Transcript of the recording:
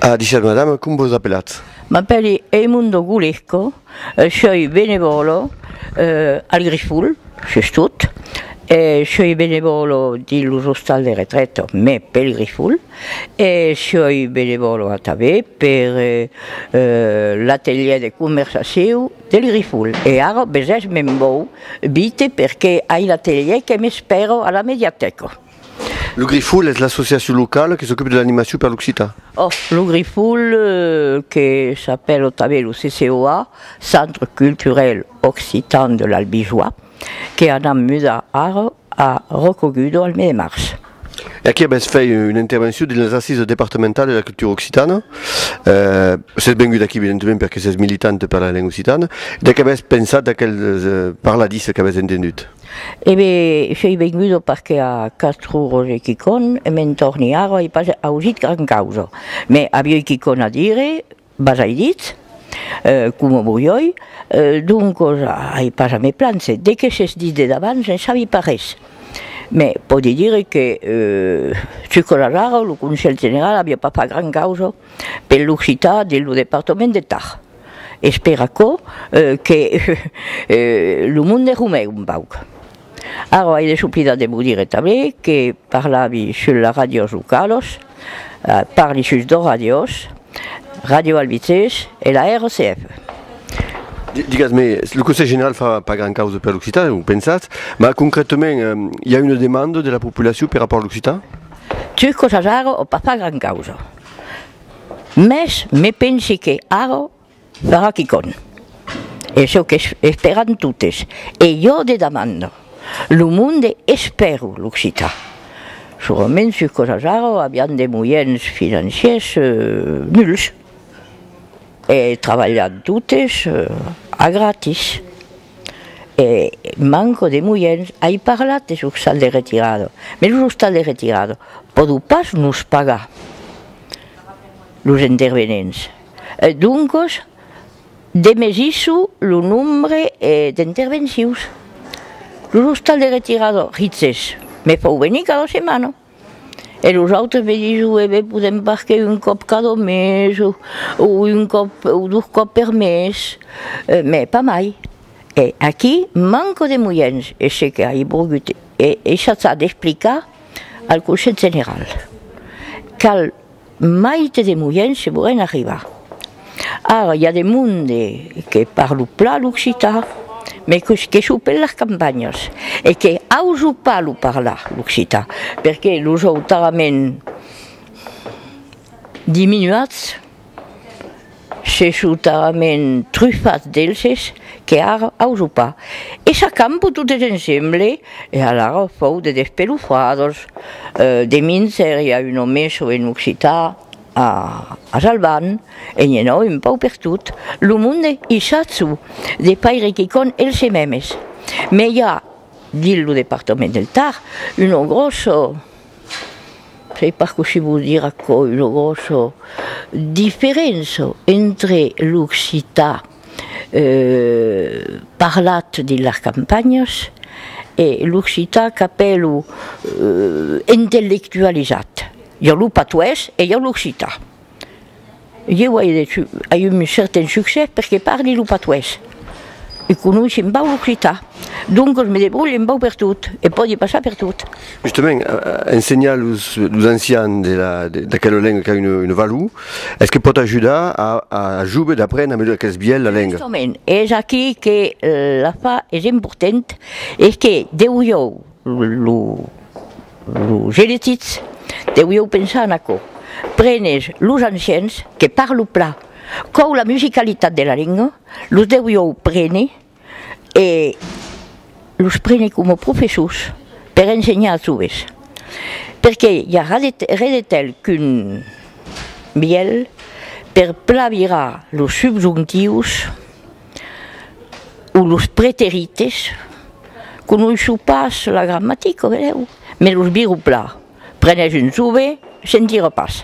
A dishèt madame, com vos apelatz? M'apèli Eimundo Gulesco, soi benevòlo al Grifol, sus tot, e soi benevòlo dins los ostals de retrèta, mai pel Grifol, e soi benevòlo atabé per l'atelièr de conversacion del Grifol, e ara besés me'n vau, vite, perqué ai l'atelièr que m'espèra a la mediatèca. Lo Grifol es l'associacion locala que s'ocupe de l'animacion per l'occitan. Òc, lo Grifol, que s'apèla tanben lo CCOA, Centre Culturel Occitan de l'Albigeois, que anam mudar ara a Roccogudor al mes de març. E aquí avètz fèit una intervencion dins las Assisas departamentalas de la cultura occitana. Sètz vengut aquí evidentement perque sètz militant per la lenga occitana. De qué avètz pensat d'aquel parladissa qu'avètz entengut? E be, soi vengut au parquet a Castro Roger Quicon e me'n torni ara, ai pas ausit gran causa. Me avioi quicon a dire, bas ai dit, coma voioi, doncos ai pas a me plancer. De que s'es dit de davant ne sabi pas res. Me pòdi dire que, suscolas ara, lo Conselh General avia pas fach gran causa per l'occitan de lo departament de Tar. Espèr aquò que lo monde rumèc un pauc. Ara ai desoblidat de vos dire tanben que parlavi sus las ràdios localas, parli sus dos ràdios, Ràdio Albités e la RCF. Digues-me, lo Conselh General fa pas gran causa per l'occitan, o pensatz, mas concrètament i a una demanda de la populacion per rapòrt a l'occitan? Sus cosas ara o pas fa gran causa. Mès me pensi que ara farà quicòm. Es çò qu'esperan totes. E jo de demanda. Lo monde espèru l'occitan. Surament sus cosas ara avián de moiens financiers nuls. E trabalhan totes a gratis. e manco de moiens, ai parlat des ostals de retirada, mes los ostals de retirada pòdon pas nos pagar los intervenents, doncos demesisso lo nombre d'intervencius, los ostals de retirada rizes me fau venir cada setmana. E los autres me dison, e ben podèm pas que un còp cada mes o un còp o dos còp per mes, mès pas mai. E aquí manco de moiens, e se que ai volgut e e chaçar d'explicar al Conselh General, cal Maite de Moièn se volen arribar. Ara i a de monde que parlo plan l'occitan, me que sou per las campanhas e que auso pas lo parlar l'occitan, perque los òu talament diminuats. Se shutament trufats d'elses que ara auso pas, e s'acampo totes ensemble, e alara fòu de despelofadors, de minser i a un omesso en occità a Salvan, e nhe nau un pau per tot lo monde i shatzo de faire quicònh else memes, me i a, dins lo departament del Tar, uno grosso. Sei pas cossí vos dire aquò, una gròssa diferença entre l'occitan parlat dins las campanhas e l'occitan qu'apèlo intellectualizat. I a lo patois e i a l'occitan. Ieu ai eu un certain succès perque parli lo patués e conoissi un pauc l'occitan, doncas me debrulhi un pauc per tot e pòdi passar per tot. Justament, ensenhar los ancians d'aquela lenga qu'a una valor, es que pòt ajudar a joves d'aprendre a melhor aquels biais la lenga? Justament, es aquí que l'afar es important, es que deu ieu Lo genetic deuieu pensar en aquò, prenes los ancians que parlo pla còu la musicalitat de la lenga, los deuieu prene e los prene coma professors per ensenhar as joves, perque i a re de tèl qu'un bielh per pla virar los subjontius o los preterites, conoisho pas la gramatica, vedèu, mès los viro plan, prenèssi un sube, sentira pas.